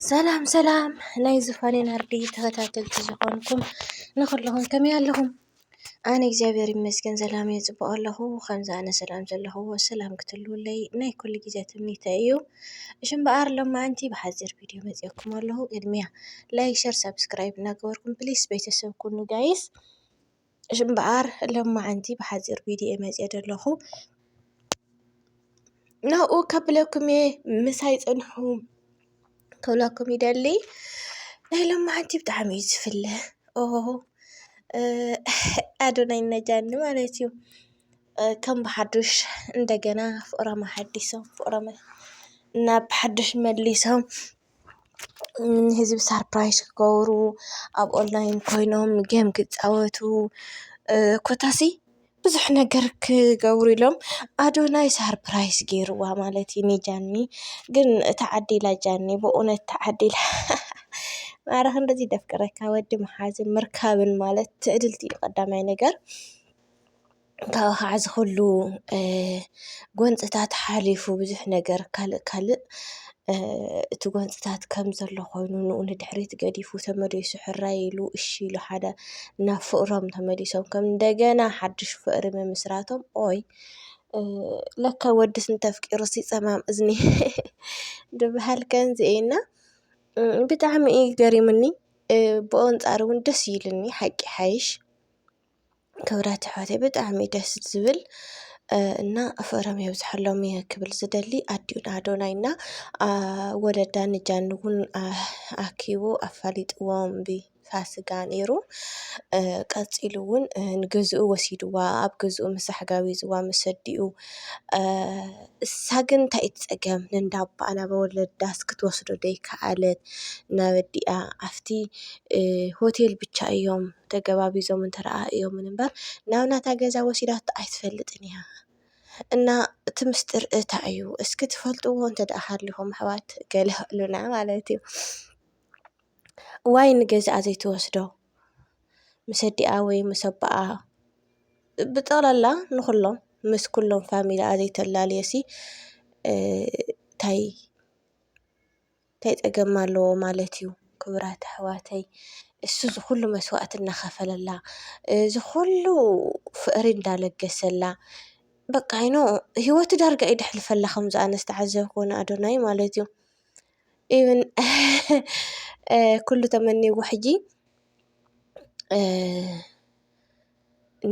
ሰላም ሰላም ናይ ዝፋኔ ናርዲ ተኸታተልቲ ዝኾንኩም ንኹለኹም ከመይ ኣለኹም? ኣነ እግዚኣብሔር ይመስገን ሰላም እየ ፅቡቕ ኣለኹ። ከምዚ ኣነ ሰላም ዘለኹዎ ሰላም ክትህልውለይ ናይ ኩሉ ግዜ ትምኒተይ እዩ። እሺ እምበኣር ሎማዓንቲ ብሓፂር ቪድዮ መፂኦኩም ኣለኹ። ቅድሚያ ላይክ፣ ሸር፣ ሳብስክራይብ እናገበርኩም ፕሊስ ቤተሰብ ኩኑ ጋይስ። እሺ እምበኣር ሎማዓንቲ ብሓፂር ቪድዮ መፅየ ዘለኹ ናብኡ ከብለኩም እየ ምሳይ ፅንሑ ክብለኩም ይደሊ ናይ ሎማዓንቲ ብጣዕሚ እዩ ዝፍለ ኦ ኣዶናይ ነጃኒ ማለት እዩ ከም ብሓዱሽ እንደገና ፍቅሮም ኣሓዲሶም ፍቅሮም ናብ ሓዱሽ መሊሶም ንህዝቢ ሳርፕራይዝ ክገብሩ ኣብ ኦንላይን ኮይኖም ጌም ክፃወቱ ኮታስ ብዙሕ ነገር ክገብሩ ኢሎም ኣዶናይ ሳርፕራይዝ ገይርዋ ማለት እዩ ንጃኒ ግን ተዓዲላ ጃኒ በእውነት ተዓዲላ ኣረ ክንድዚ ደፍቅረካ ወዲ ምሓዝን ምርካብን ማለት ትዕድልቲ እዩ ቀዳማይ ነገር። ካብኡ ኸዓ እዚ ኹሉ ጎንፅታት ሓሊፉ ብዙሕ ነገር ካልእ ካልእ እቲ ጎንፅታት ከም ዘሎ ኾይኑ ንኡ ንድሕሪት ገዲፉ ተመሊሱ ሕራይ ኢሉ እሺ ኢሉ ሓደ ናብ ፍቕሮም ተመሊሶም ከም እንደገና ሓዱሽ ፍቕሪ ምምስራቶም ኦይ ለካ ወድስ እንተፍቂሩስ ይፀማም እዝኒ ዝብሃል ከምዚ እዩ እና ብጣዕሚ እዩ ገሪሙኒ ብኡ ኣንፃር እውን ደስ ኢሉኒ ሓቂ ይሓይሽ። ክብረት ኣሕዋተይ ብጣዕሚ ደስ ዝብል እና ፍቅሮም የብዝሓሎም እየ ክብል ዝደሊ ኣዲኡ ንኣዶናይ እና ወለዳ ንጃን እውን ኣኪቡ ኣፋሊጥዎም ብፋስጋ ነይሩ። ቀፂሉ እውን ንገዝኡ ወሲድዋ ኣብ ገዝኡ ምስ ኣሕጋቢዝዋ ምስ ኣዲኡ እሳ ግን እንታይ እዩ እቲ ፀገም ነንዳ ኣባኣ ናብ ወለዳስ ክትወስዶ ዘይከኣለት ናብ ኣዲኣ ኣፍቲ ሆቴል ብቻ እዮም። ተገባቢዞም እንተረኣእዮምን እምበር ናብ ናታ ገዛ ወሲዳቶ ኣይትፈልጥን እያ እና እቲ ምስጢር እታይ እዩ እስኪ ትፈልጥዎ እንተድኣ ሃሊኹም ኣሕዋት ገለ በሉና ማለት እዩ ዋይ ንገዛኣ ዘይትወስዶ ምስ ኣዲኣ ወይ ምስ ኣቦኣ ብጠቕላላ ንኹሎም ምስ ኩሎም ፋሚላኣ ዘይተላልየሲ ታይ እንታይ ጸገም ኣለዎ ማለት እዩ ክብራት ኣሕዋተይ እሱ ዝኹሉ መስዋእቲ እናኸፈለላ ዝኹሉ ፍቕሪ እንዳለገሰላ በቃ ዩ ኖ ሂወቱ ዳርጋ እዩ ደሕልፈላ ከምዚ ኣነ ዝተዓዘብክዎ ንኣዶናይ ማለት እዩ ኢቭን ኩሉ ተመንይዎ ሕጂ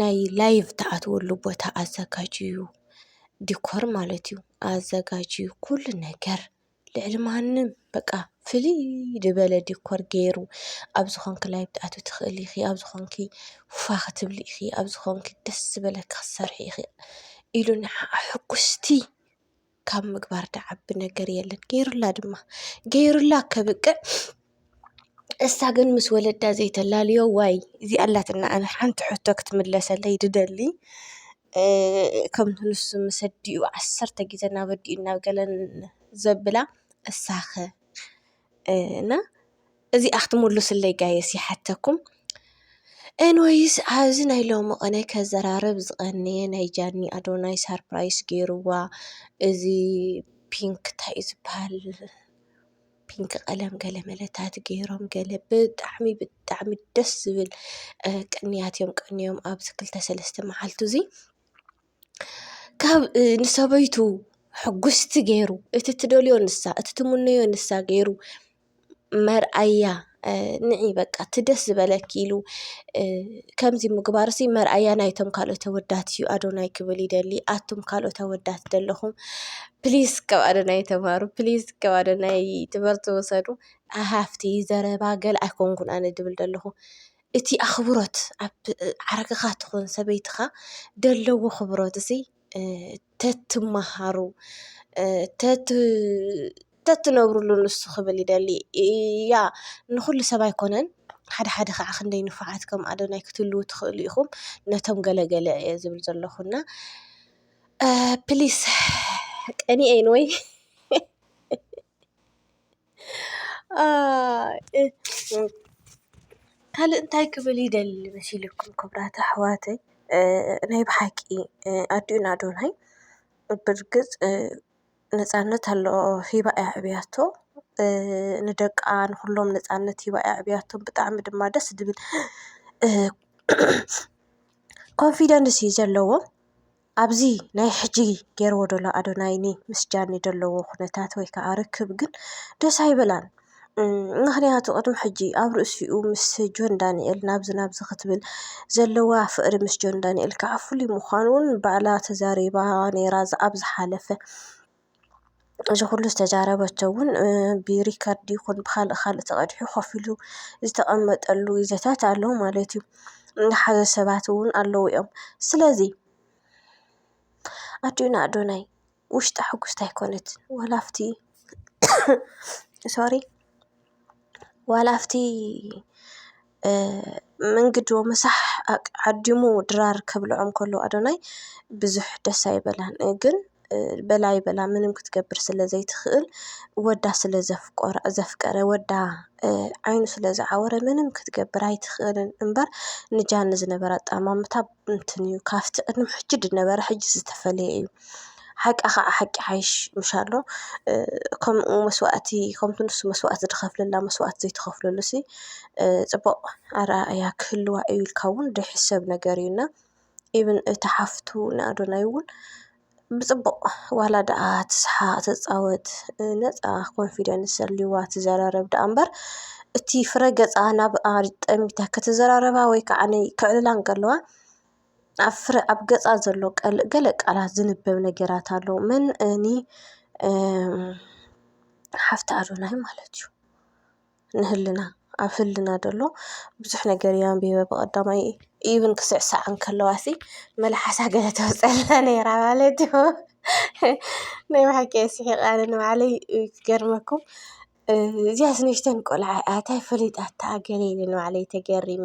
ናይ ላይቭ ትኣትወሉ ቦታ ኣዘጋጅዩ ዲኮር ማለት እዩ ኣዘጋጅዩ ኩሉ ነገር። ልዕሊ ማንም በቃ ፍልይ ዝበለ ዲኮር ገይሩ ኣብዚ ኮንኪ ላይቭ ትኣትዊ ትኽእሊ ኢኺ፣ ኣብዚ ኮንኪ ፋ ክትብሊ ኢኺ፣ ኣብዚ ኮንኪ ደስ ዝበለኪ ክትሰርሒ ኢኺ ኢሉ ንዓ ሕጉስቲ ካብ ምግባር ድዓቢ ነገር የለን። ገይሩላ ድማ ገይሩላ ከብቅዕ እሳ ግን ምስ ወለዳ ዘይተላልዮ ዋይ እዚ ኣላትና ኣነ ሓንቲ ሕቶ ክትምለሰለይ ድደሊ ከምቲ ንሱ ምስ ኣዲኡ ዓሰርተ ግዘ ናብ ኣዲኡ ናብ ገለን ዘብላ እሳኸ እና እዚኣ ክትምሉስለይ ጋይስ ይሓተኩም ኤንወይስ ኣብዚ ናይ ሎሚ ቅነ ከዘራርብ ዝቀነየ ናይ ጃኒ ኣዶናይ ሳርፕራይስ ገይርዋ እዚ ፒንክ እንታይ እዩ ዝብሃል? ፒንክ ቀለም ገለ መለታት ገይሮም ገለ ብጣዕሚ ብጣዕሚ ደስ ዝብል ቅንያት እዮም ቀንዮም ኣብዚ ክልተ ሰለስተ መዓልቲ እዚ ካብ ንሰበይቱ ሕጉስቲ ገይሩ እቲ ትደልዮ ንሳ እቲ ትምነዮ ንሳ ገይሩ መርኣያ። ንዒ በቃ እቲ ደስ ዝበለኪ ኢሉ ከምዚ ምግባርሲ መርኣያ ናይቶም ካልኦት ኣወዳት እዩ ኣዶናይ ክብል ይደሊ ኣቱም ካልኦት ኣወዳት ዘለኹም ፕሊስ ካብ ኣዶናይ ተማሩ ፕሊስ ካብ ኣዶናይ ትምህርቲ ውሰዱ ሃፍቲ ዘረባ ገል ኣይኮንኩን ኣነ ድብል ደለኹ እቲ ኣኽብሮት ኣብ ዓርክኻ ትኹን ሰበይትኻ ደለዎ ኽብሮት እዙይ ተትመሃሩ ተትነብርሉ ንሱ ክብል ይደሊ እያ ንኹሉ ሰብ ኣይኮነን ሓደ ሓደ ኸዓ ክንደይ ንፉዓት ከም ኣዶናይ ክትህልዉ ትኽእሉ ኢኹም ነቶም ገለ ገለ እየ ዝብል ዘለኹ እና ፕሊስ ቀንኤን ወይ ካልእ እንታይ ክብል ይደሊ መሲልኩም ክብራት ኣሕዋተይ ናይ ብሓቂ ኣዲኡን ኣዶናይ ብርግፅ ነፃነት ኣሎ ሂባ እያ ኣዕብያቶ ንደቃ ንኹሎም ነፃነት ሂባ እያ ኣዕብያቶ ብጣዕሚ ድማ ደስ ዝብል ኮንፊደንስ እዩ ዘለዎም። ኣብዚ ናይ ሕጂ ጌርዎ ደሎ ኣዶናይኒ ምስ ጃኒ ደለዎ ኩነታት ወይ ካዓ ርክብ ግን ደስ ኣይበላን። ምክንያቱ ቅድሚ ሕጂ ኣብ ርእሲኡ ምስ ጆን ዳኒኤል ናብዚ ናብዚ ክትብል ዘለዋ ፍቅሪ ምስ ጆን ዳኒኤል ካዓ ፍሉይ ምኳኑ ባዕላ ተዛሪባ ኔራ ኣብ ዝሓለፈ። እዚ ኩሉ ዝተዛረበቶ እውን ብሪከርድ ይኹን ብኻልእ ካልእ ተቐዲሑ ኮፍ ኢሉ ዝተቐመጠሉ ግዜታት ኣሎ ማለት እዩ። ዝሓዘ ሰባት እውን ኣለዉ እዮም። ስለዚ ኣዲኡና ኣዶናይ ውሽጣ ሕጉስቲ ኣይኮነትን ዋላ ኣብቲ ሶሪ ዋላ ኣብቲ መንግዶ ምሳሕ ዓዲሙ ድራር ከብልዖም ከሎ ኣዶናይ ብዙሕ ደስ ኣይበላን። ግን በላ ኣይበላ ምንም ክትገብር ስለ ዘይትኽእል ወዳ ስለ ዘፍቆረ ዘፍቀረ ወዳ ዓይኑ ስለ ዝዓወረ ምንም ክትገብር ኣይትኽእልን እምበር ንጃኒ ዝነበራ ኣጠማምታ እንትን እዩ ካብቲ ቅድሚ ሕጂ ዝነበረ ሕጂ ዝተፈለየ እዩ። ሓቂ ከዓ ሓቂ ይሓይሽ ምሻሎ ከምኡ መስዋእቲ ከምቲ ንሱ መስዋእቲ ዝኸፍለላ መስዋእቲ ዘይተኸፍለሉሲ ፅቡቕ ኣረኣእያ ክህልዋ እዩ ኢልካ እውን ዘይሕሰብ ነገር እዩ እና ኢቭን እታ ሓፍቱ ንኣዶናይ እውን ብጽቡቕ ዋላ ደኣ ትስሓቕ ትጻወት ነጻ ኮንፊደንስ ኣልዋ ትዘራረብ ደኣ እምበር እቲ ፍረ ገጻ ናብ ኣጠሚታ ክትዘራረባ ወይ ከዓ ከዕልላ እንከለዋ ኣብ ፍረ ኣብ ገጻ ዘሎ ገለ ቃላት ዝንበብ ነገራት ኣሎ። መን እኒ ሓፍቲ ኣዶናይ ማለት እዩ። ንህልና ኣብ ህልና ደሎ ብዙሕ ነገር እየ ኣንቢበ ብቐዳማይ ኢቭን ክስዕሳዕ እንከለዋሲ መልሓሳ ገለ ተውፀላ ነይራ ማለት እዩ። ናይ ብሓቂ እየ ስሒቐ ኣነ ንባዕለይ ክገርመኩም እዚኣስ ንእሽተን ቆልዓ እያ ታይ ፈሊጣታ ገለ ኢለ ንባዕለይ ተገሪመ።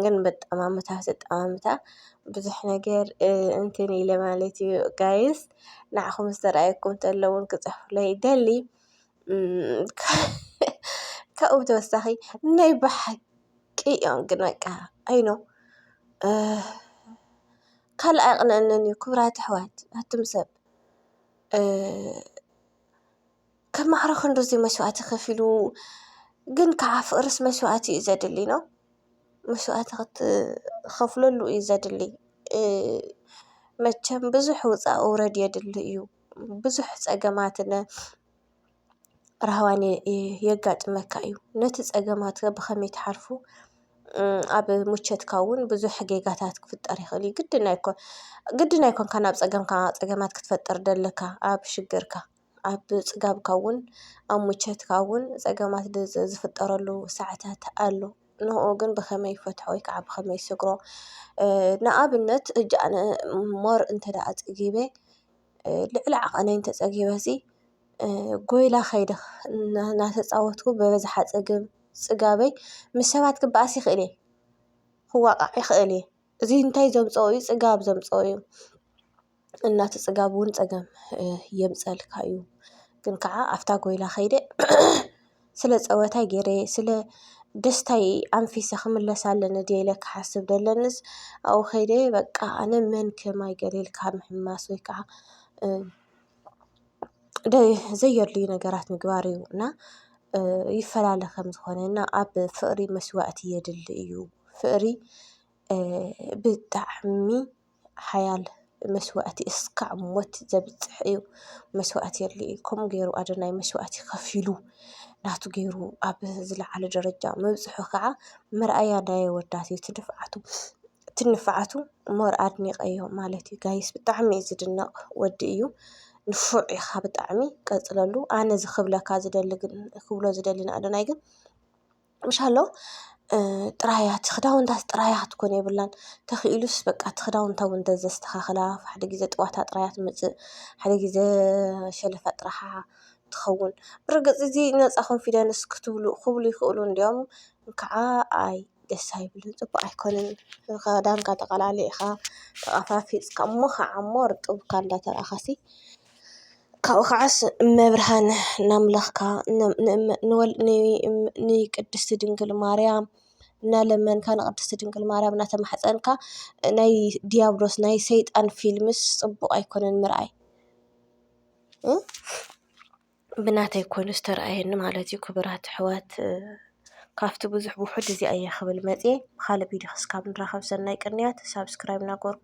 ግን በጣማምታ ኣጠማምታ ብዙሕ ነገር እንትን ኢለ ማለት እዩ ጋይስ ንዓኹም ዝተርኣየኩም ተሎ እውን ክፅሕፉለይ ይደሊ። ካብኡ ብተወሳኺ ናይ ብሓቂ እዮም ግን በቃ ኣይ ኖው ካልእ ኣይቕንኣንን እዩ ክቡራት ኣሕዋት ኣቱም ሰብ ከም ማዕሮ ክንድዚ መስዋእቲ ከፊሉ ግን ከዓ ፍቅርስ መስዋእቲ እዩ ዘድሊ ኖው መስዋእቲ ክትኸፍለሉ እዩ ዘድሊ መቸም ብዙሕ ውፃእ ውረድ የድሊ እዩ። ብዙሕ ፀገማትን ራህዋን የጋጥመካ እዩ። ነቲ ፀገማት ከ ብኸመይ ትሓልፎ? ኣብ ምቸትካ እውን ብዙሕ ጌጋታት ክፍጠር ይኽእል እዩ። ግድን ኣይኮን ግድን ኣይኮንካን ኣብ ፀገምካ ፀገማት ክትፈጥር ዘለካ ኣብ ሽግርካ ኣብ ፅጋብካ እውን ኣብ ምቸትካ እውን ፀገማት ዝፍጠረሉ ሰዓታት ኣሎ። ንኡ ግን ብኸመይ ይፈትሖ ወይ ከዓ ብኸመይ ይሰግሮ? ንኣብነት ሕጂ ኣነ ማር እንተደኣ ፀጊበ ልዕሊ ዓቐነይ እንተፀጊበሲ ጎይላ ከይደ እናተፃወትኩ በበዝሓ ፀገም ፅጋበይ ምስ ሰባት ክበኣስ ይኽእል እየ። ክዋቓዕ ይኽእል እየ። እዚ እንታይ ዘምፀኦ እዩ ፅጋብ ዘምፀኦ እዩ። እና እቲ ፅጋብ እውን ፀገም የምፀልካ እዩ። ግን ከዓ ኣፍታ ጎይላ ከይደ ስለ ጸወታይ ጌረ ስለ ደስታይ ኣንፊሰ ክምለስ ኣለኒ ድየ ኢለ ክሓስብ ደለንስ ኣብኡ ከይደ በቃ ኣነ መን ከማይ ገለ ኢልካ ምሕማስ ወይ ከዓ ዘየድልዩ ነገራት ምግባር እዩ እና ይፈላለ ከም ዝኾነ እና ኣብ ፍቕሪ መስዋእቲ የድሊ እዩ ፍቕሪ ብጣዕሚ ሓያል መስዋእቲ እስካዕ ሞት ዘብፅሕ እዩ። መስዋእቲ የድሊ እዩ። ከምኡ ገይሩ ኣዶናይ መስዋእቲ ከፊሉ ናቱ ገይሩ ኣብ ዝለዓለ ደረጃ ምብፅሑ ከዓ መርኣያ ናይ ኣወዳት እዩ። እቲ ድፍዓቱ እቲ ንፍዓቱ ሞር ኣድኒቐዮ ማለት እዩ። ጋይስ ብጣዕሚ እዩ ዝድነቕ ወዲ እዩ። ንፉዕ ኢኻ ብጣዕሚ ቀፅለሉ። ኣነ እዚ ክብለካ ዝደሊ ግን ክብሎ ዝደሊ ንኣዶናይ ግን ምሻሎ ጥራይ እያ እቲ ክዳውንታ ጥራይ እያ ክትኮን የብላን ተኽኢሉስ በቃ እቲ ክዳውንታ እውን እንተዘስተኻኽላ ሓደ ግዜ ጥዋታ ጥራይ እያ ትመጽእ ሓደ ግዜ ሸልፋ ጥራሓ ትኸውን ብርግጽ እዚ ነፃ ኮንፊደንስ ክትብሉ ክብሉ ይኽእሉ እንድዮም እንካዓ ኣይ ደስ ኣይብልን ጽቡቕ ኣይኮነን ክዳንካ ተቐላልይኻ ተቐፋፊጽካ እሞ ኻዓ እሞ ርጥብካ እንዳተራእኻሲ። ካብኡ ከዓስ እመብርሃን ናምላኽካ ንቅድስቲ ድንግል ማርያም እናለመንካ ንቅድስቲ ድንግል ማርያም እናተማሕፀንካ ናይ ዲያብሎስ ናይ ሰይጣን ፊልምስ ፅቡቅ ኣይኮነን ምርኣይ ብናተይ ኮይኑ ዝተርኣየኒ ማለት እዩ። ክቡራት ኣሕዋት ካብቲ ብዙሕ ውሑድ እዚኣ እየ ክብል መፂየ ብካልእ ቪድዮ ክሳብ ንራኸብ ሰናይ ቅንያት ሳብስክራይብ እናገበርኩም።